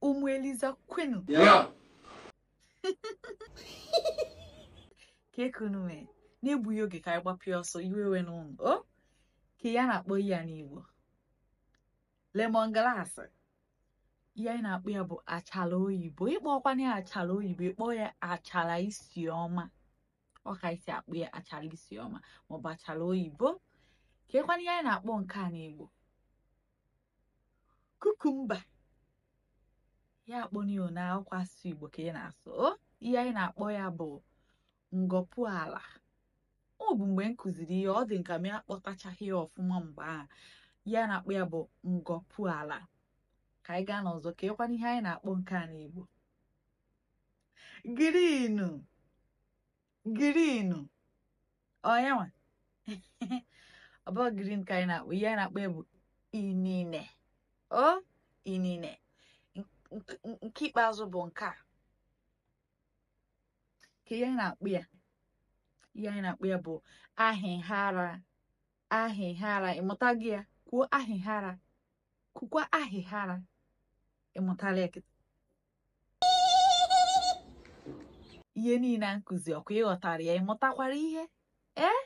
ụmụ eliza kwenu kee ka unu mee n'egbughị oge ka anyị gbapịa ọsọ iwe we n'ụlọ o kee ihe a na-akpọ ihe a n'igbo lemon grass ihe anyị na-akpọ ya bụ achara oyibo ị kpọkwana ya achara oyibo ị kpọọ ya achara isi ọma ọ ka e si akpọ ya achara isi ọma maọbụ achara oyibo keekwanụ ihe anyị na-akpọ nke a n'igbo cucumber ihe a kpọrọ ya na akwụkwọ asụsụ igbo ka a na-asụ ihe anyị na-akpọ ya bụ ngọpụ ala ọ bụ mgbe m kụziri ihe ọ dị nka m akpọtachaghị ya ọfụma mgbe ahụ ihe anyị na-akpọ ya bụ ngọpụ ala ka anyị gaa n'ọzọ keekwanụ ihe anyị na-akpọ nke a n'igbo green green ọ ya nwa ọ bụ green ka anyị na-akpọ ihe anyị na-akpọ ya bụ inine o inine nke ikpeazụ bụ nke a kee ihe anyị na-akpọ ya ihe anyị na-akpọ ya bụ ahịhara ahịhara ị mụtaghị ya kwuo ahịhara kwukwa ahịhara ị mụtala ya kịta ihe niile a m kụziri ọkwa ị ghọtara ya ị mụtakwara ihe ee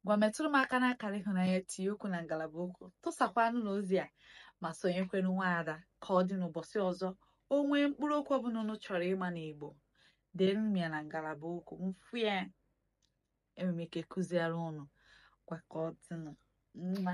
ngwa metụrụ m aka n'akara ịhụnanya tinye okwu na ngalaba okwu tụsakwanụ na ozi a ma sonyekwanụ nwaada ka ọ dị n'ụbọchị ọzọ o nwee mkpụrụ okwu ọbụla unu chọrọ ịma n'Igbo deere m ya na ngalaba okwu m fụ ya enwere m ike kụziere unu ngwa ka ọ dịnụ mma